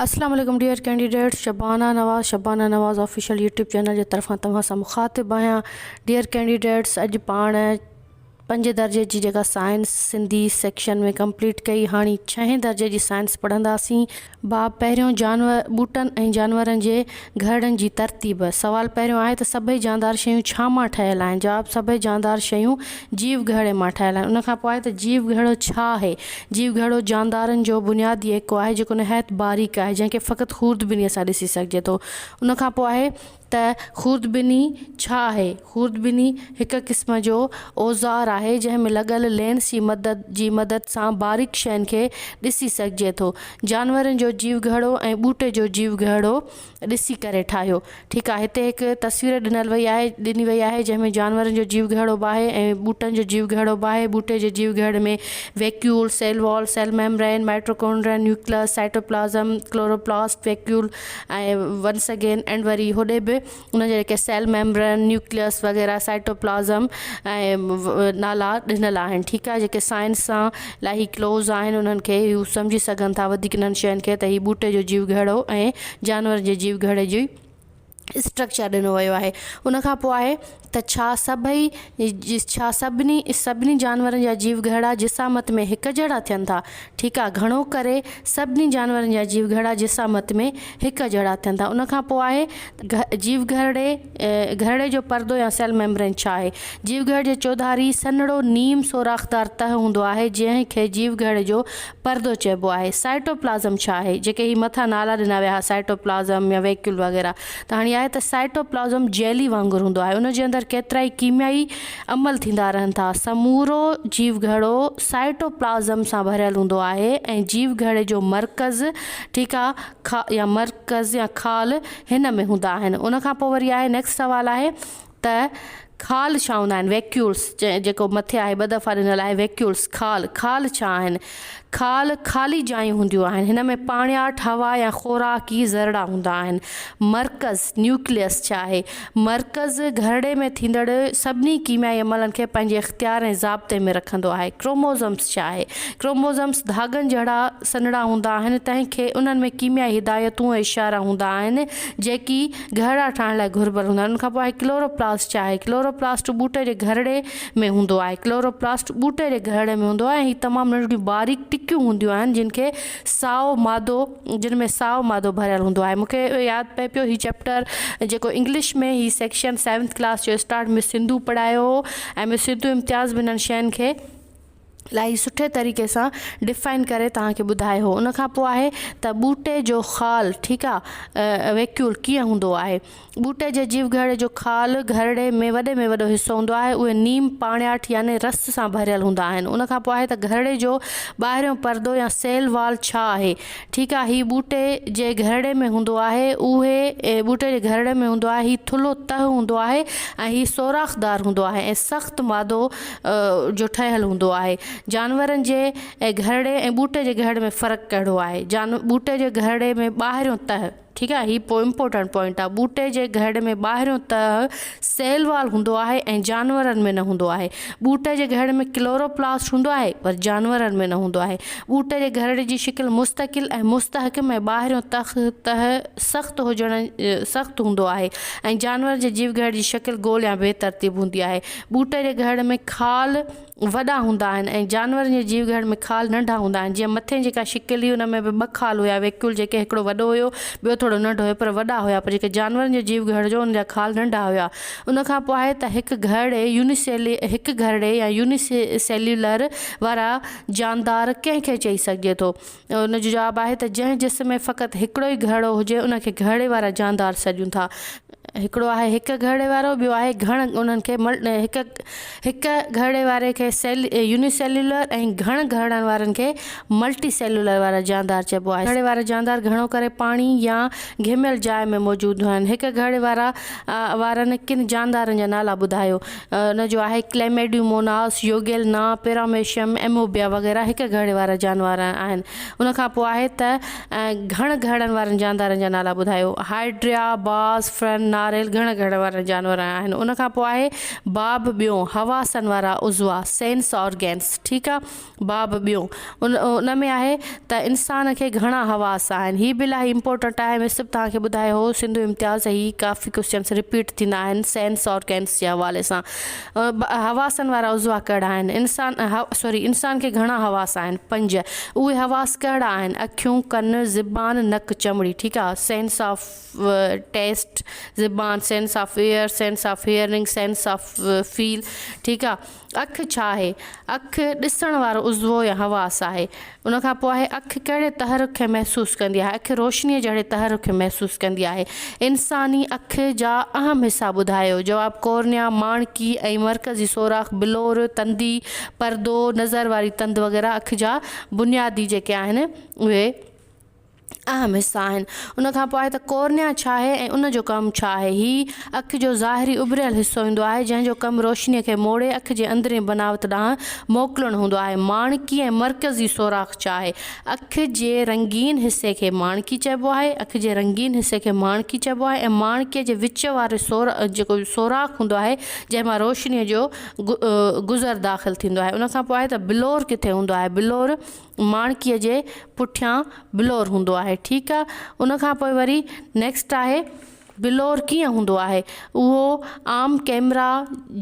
اسلام عليڪم dear candidates Shabana Nawaz Shabana Nawaz official YouTube channel جي طرفان توهان سان مخاطب آهيان ڊيئر ڪينڊيڊيٽس اڄ پاڻ پنج درجي جي جيڪا سائنس سنڌي سيڪشن ۾ ڪمپليٽ ڪئي هاڻي ڇهين درجي جي سائنس پڙهنداسين باب پهريون جانور ٻوٽن ۽ جانورن جي گهرڙن جي ترتيب. سوال پهريون آهي ته سڀئي جاندار شيون ڇا مان ٺهيل آهن؟ جواب، سڀئي جاندار شيون جيو گهرڙي مان ٺهيل آهن. ان کان پوء آهي ته جيو گهرڙو ڇا آهي؟ جيو گهرڙو جاندارن جو بنيادي ايڪو آهي جيڪو نهايت باريڪ آهي جنهن کي فقط خوردبينيء سان ڏسي سگهجي ٿو. ان کان پوء آهي ته خوردبيني ڇا آهي؟ خوردبيني هڪ قسم جو اوزار آهي جنهن ۾ لڳل لينس جي مدد جي مدد سان باريڪ شين کي ڏسي سگهجي ٿو. جانورن جو جيوگهرڙو ۽ ٻوٽي جو جيوگهرڙو ڏسي ڪري ٺاهيو. ٺيڪ آهي هتي هڪ تصوير ڏنل وئي آهي ڏني وئي آهي جنهن ۾ جانورن جو جيوگهرڙو به آهي ۽ ٻوٽن جو جيوگهرڙو به آهي ٻوٽي جي جيوگهرڙي ۾ vacuole, cell wall, cell membrane, mitochondrion, nucleus, cytoplasm, chloroplast, vacuole ۽ once again and وري هوڏي به ان جا جيڪي سيل ميمبرين، نيوڪليس وغيره سائٽوپلازم ۽ نالا ڏنل آهن ٺيڪ آهي جيڪي سائنس سان الاهي ڪلوز آهن انهن کي هو سمجهي سگهن ٿا وڌيڪ انهن شين کي ته هي ٻوٽي جو جيو گهڙو ۽ جانورن جي جيو گهڙي جي اسٽرڪچر ڏنو ويو آهي ان کان پوء آهي ته ڇا سڀئي ڇا سڀني سڀني جانورن جا جيو گهڙا جسامت ۾ هڪ جهڙا ٿين ٿا ٺيڪ آهي گهڻو ڪري سڀني جانورن جا جيو گهڙا جسامت ۾ هڪ جهڙا ٿين ٿا ان کان پوء آهي جيوگهرڙي، گهرڙي جو پردو يا سيل ميمبرين ڇا آهي؟ جيوگهرڙي جي چوڌاري سنهڙو نيم سوراخدار تهه هوندو آهي جنهن کي جيوگهرڙي جو پردو چئبو آهي. سائٽوپلازم ڇا آهي؟ جيڪي هي مٿان نالا ڏنا ويا ها سائٽوپلازم يا ويڪيول وغيره ته هاڻي آهي ته سائٽوپلازم جيلي وانگر هوندو آهي ان جي اندر ڪيترائي ڪيميائي عمل ٿيندا رهن ٿا سمورو جيوگهرڙو سائٽوپلازم سان ڀريل هوندو آهي ۽ جيوگهرڙي جو مرڪز ٺيڪا خا يا مرڪز يا خال هن ۾ هوندا آهن ان کان پوء وري آهي نيڪسٽ سوال آهي ته خال ڇا هوندا آهن ويڪيولس جيڪو مٿي آهي ٻه دفعا ڏنل آهي ويڪيولس خال خال ڇا آهن خال خالي جايون هونديون آهن هن ۾ پاڻياٺ هوا يا خوراڪي ذرڙا هوندا آهن مرڪز نيوڪليس ڇا آهي مرڪز گهرڙي ۾ ٿيندڙ سڀني ڪيميائي عملن کي پنهنجي اختيار ۽ ضابطي ۾ رکندو آهي ڪروموزمس ڇا آهي ڪروموزمس ڌاڳن جهڙا سنهڙا هوندا آهن، تنهن کي انهن ۾ ڪيميائي هدايتون ۽ اشارا هوندا آهن، جيڪي گهرڙا ٺاهڻ لاء گهربل هوندا آهن. ان کانپوء آهي ڪلورو پلاسٽ ڇا آهي؟ ڪلورو پلاسٽ ٻوٽي جي گهرڙي ۾ هوندو آهي. ڪلورو پلاسٽ ٻوٽي جي گهرڙي ۾ هوندو آهي ۽ هي تمام ننڍڙيون باريڪ ٽڪيون هونديون آهن جن کي سائو مادو جن ۾ سائو مادو ڀريل هوندو آهي. مون کي ياد پئي پيو هي چيپٽر جيڪو انگلش ۾ هي سيڪشن سيونٿ ڪلاس جو اسٽارٽ مس سنڌو پڙهايو هو ۽ مس سنڌو امتياز به انهن شين کي. الائي سٺي طريقي سان ڊفائن ڪري توهان کي ٻڌائي هو ان کان پوء آهي ته ٻوٽي جو خال ٺيڪ آهي ويڪيول ڪيئن هوندو آهي ٻوٽي جي جيو گهرڙي جو خال گهرڙي ۾ وڏي ۾ وڏو حصو هوندو آهي اهي نيم پاڻياٺ يعني رس سان ڀريل هوندا آهن ان کان پوء آهي ته گهرڙي جو ٻاهريون پردو يا سيل وال ڇا آهي ٺيڪ آهي هي ٻوٽي جي گهرڙي ۾ هوندو آهي اهي ٻوٽي جي گهرڙي ۾ هوندو آهي هي ٿلهو تهه هوندو آهي ۽ هي سوراخ دار هوندو آهي ۽ سخت مادو جو ٺهيل هوندو آهي. جانورن جي گهرڙي ۽ ٻوٽي جي گهرڙي ۾ فرق ڪهڙو آهي؟ جان ٻوٽي جي گهرڙي ۾ ٻاهريون تهه ٺيڪ آهي هي امپورٽنٽ پوائنٽ آهي ٻوٽي جي گهرڙي ۾ ٻاهريون تهه سيل وال هوندو آهي ۽ جانورن ۾ نه هوندو آهي ٻوٽي جي گهرڙي ۾ ڪلورو پلاسٽ هوندو آهي پر جانورن ۾ نه هوندو آهي ٻوٽي جي گهرڙي جي شڪل مستقل ۽ مستحڪم ۽ ٻاهريون تخ تهه سخت هجڻ سخت هوندو آهي ۽ جانور جي جيو گهرڙي جي شڪل گول يا بي ترتيب هوندي آهي ٻوٽ جي گهڙ ۾ خال وڏا هوندا آهن ۽ جانورن جي جيو گهڙ ۾ خال ننڍا هوندا آهن جيئن مٿين جيڪا شڪل هئي ان ۾ به ٻه خال هيا ويڪيول جيڪي هڪڙو وڏو هيو ٻيو ٿورو ننڍو هيو پر وڏا هيا پر جيڪي جانورن جي جيو گهڙ جو ان جا خال ننڍا هيا ان کان پوء آهي ته هڪ گهڙي يونيسيلي هڪ گهڙي يا يونيسيليولر وارا جاندار ڪنهن کي چئي سگهجي ٿو ان جو جواب آهي ته جنهن جسم ۾ فقط هڪڙو ئي گهڙو هجي ان کي گهڙي وارا جاندار سڏجن ٿا. هڪڙو آهي هڪ گهڙي وارو ٻيو آهي گهڻ انهن کي هڪ هڪ گهڙي واري کي يوني سيلولر ۽ گهڻ گهڙن وارن کي ملٽي سيلولر وارا جاندار چئبو آهي. گهڙي وارا جاندار گهڻو ڪري پاڻي يا گهميل جاء ۾ موجود هوندا آهن. هڪ گهڙي وارا وارن ڪن جاندارن جا نالا ٻڌايو. ان جو آهي ڪليميڊيوموناس، يوگيلنا، پيراميشيم، ايموبيا وغيره هڪ گهڙي وارا جانور آهن. ان کان پوء آهي ته گهڻ گهڙن وارن جاندارن جا نالا ٻڌايو. هائيڊريا، باز، فرن، ناريل گهڻ گهڙن وارا جانور آهن. ان کان پوء آهي باب ٻيون، حواسن وارا عضوا، Sense Organs، ٺيڪ آ. باب ٻيو ان ۾ آهي ته انسان کي گهڻا حواس آهن هي به الاهي امپورٽنٽ آهي مين صرف توهان کي ٻڌايو هو سنڌو امتياز هي ڪافي ڪوسچنس رپيٽ ٿيندا آهن سينس آرگنس جي حوالي سان حواسن وارا عضوا ڪهڙا آهن انسان سوري انسان کي گهڻا حواس آهن پنج اهي حواس ڪهڙا آهن اکيون ڪن زبان نڪ چمڙي ٺيڪ آهي سينس آف ٽيسٽ زبان sense of ear sense of hearing sense of feel ٺيڪ آهي اک ڇا آهي؟ اک ڏسڻ وارو عضوو يا حواس آهي. ان کان پوء آهي اک ڪهڙي تحرڪ کي محسوس ڪندي آهي؟ اک روشنيء جهڙي تحرڪ کي محسوس ڪندي آهي. انساني اک جا اهم حصا ٻڌايو؟ جواب، ڪورنيا، ماڻڪي ۽ مرڪزي سوراخ، بلور، تندي، پردو، نظر واري تند وغيره اک جا بنيادي جيڪي آهن اهي. اهم حصا آهن. ان کان پوء آهي ته ڪورنيا ڇا آهي ۽ ان جو ڪم ڇا آهي. هي اک جو ظاهري اڀريل حصو هوندو آهي، جنهن جو ڪم روشني کي موڙي اک جي اندرين بناوت ڏانهن موڪلڻ هوندو آهي. ماڻڪي ۽ مرڪزي سوراخ ڇا آهي. اک جي رنگين حصي کي ماڻڪي چئبو آهي. اک جي رنگين حصي کي ماڻڪي چئبو آهي ۽ ماڻڪي جي وچ واري جيڪو سوراخ هوندو آهي، جنهن مان روشني جو گذر داخل ٿيندو آهي. ان کان پوء آهي ته بلور ڪٿي هوندو آهي. بلور ماڻڪيء جي پٺيان بلور هوندو آهي ٺيڪ آ ان کان پوء وري نيڪسٽ آهي بلور ڪيئن هوندو آهي اهو عام ڪيمرا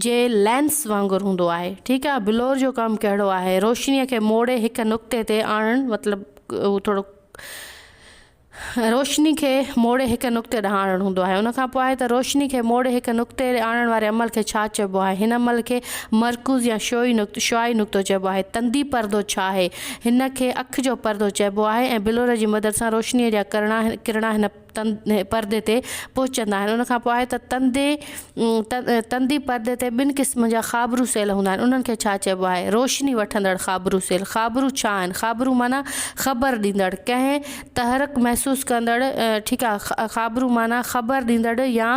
جي لينس وانگر هوندو آهي ٺيڪ آ بلور جو ڪم ڪهڙو آهي روشنيء کي موڙي هڪ نقطي تي آڻڻ مطلب هو ٿورو روشني کي موڙي هڪ نقطي ڏانهن آڻڻ هوندو آهي. ان کان پوء آهي ته روشني کي موڙي هڪ نقطي ڏي آڻڻ واري عمل کي ڇا چئبو آهي؟ هن عمل کي مرڪوز يا شعوعي نقطو، Shuai، نقطو چئبو آهي. تندي پردو ڇا آهي؟ هن کي اک جو پردو چئبو آهي ۽ بلور جي مدد سان روشني جا ڪرڻا ڪرڻا هن پردي تي پهچندا آهن. ان کان پوء آهي ته تندي. تندي پردي تي ٻن قسمن جا خابرو سيل هوندا آهن، انهن کي ڇا چئبو آهي؟ روشني وٺندڙ خابرو سيل، خابرو ڇا آهن؟ خابرو معنيٰ خبر ڏيندڙ، ڪنهن تحرڪ محسوس ڪندڙ، ٺيڪ آهي، خابرو معنيٰ خبر ڏيندڙ يا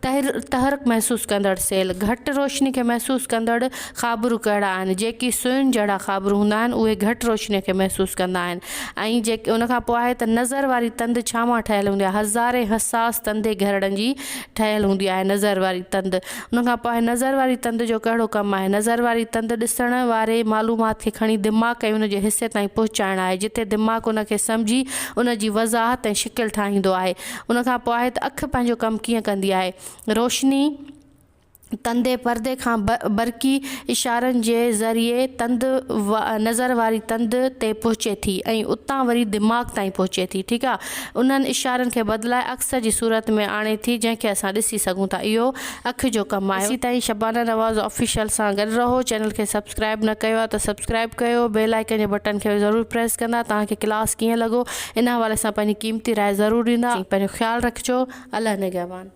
تحرڪ محسوس ڪندڙ سيل. گهٽ روشني کي محسوس ڪندڙ خابرو ڪهڙا آهن؟ جيڪي سوئن جهڙا خابرو هوندا آهن، اهي گهٽ روشني کي محسوس ڪندا آهن ۽ ان کان پوء آهي ته نظر واري تند ڇا مان ٺهيل هوندي آهي؟ هزارين حساس تندي گهرڙن جي ٺهيل هوندي آهي نظر واري تند ان کان پوء نظر واري تند جو ڪهڙو ڪم آهي نظر واري تند ڏسڻ واري معلومات کي کڻي دماغ ۽ ان جي حصي تائين پهچائڻ آهي جتي دماغ ان کي سمجهي ان جي وضاحت ۽ شڪل ٺاهيندو آهي ان کان پوء آهي ته اک پنهنجو ڪم ڪيئن ڪندي آهي روشني ڪندي پردي کان برقي اشارن جي ذريعي تند نظر واري تند تي پهچي ٿي ۽ اتان وري دماغ تائين پهچي ٿي ٺيڪ آ انهن اشارن کي بدلائي عڪس جي صورت ۾ آڻي ٿي جنهن کي اسان ڏسي سگهون ٿا اهو اک جو ڪم آهي ايسي تائين شبانه نواز آفيشل سان گڏ رهو چينل کي سبسڪرائب نه ڪيو آ ته سبسڪرائب ڪيو بيل آئيڪن جي بٽن کي ضرور پريس ڪندا توهان کي ڪلاس ڪيئن لڳو ان حوالي سان پنهنجي قيمتي راء ضرور ڏيندا پنهنجو خيال رکجو الله نگهبان.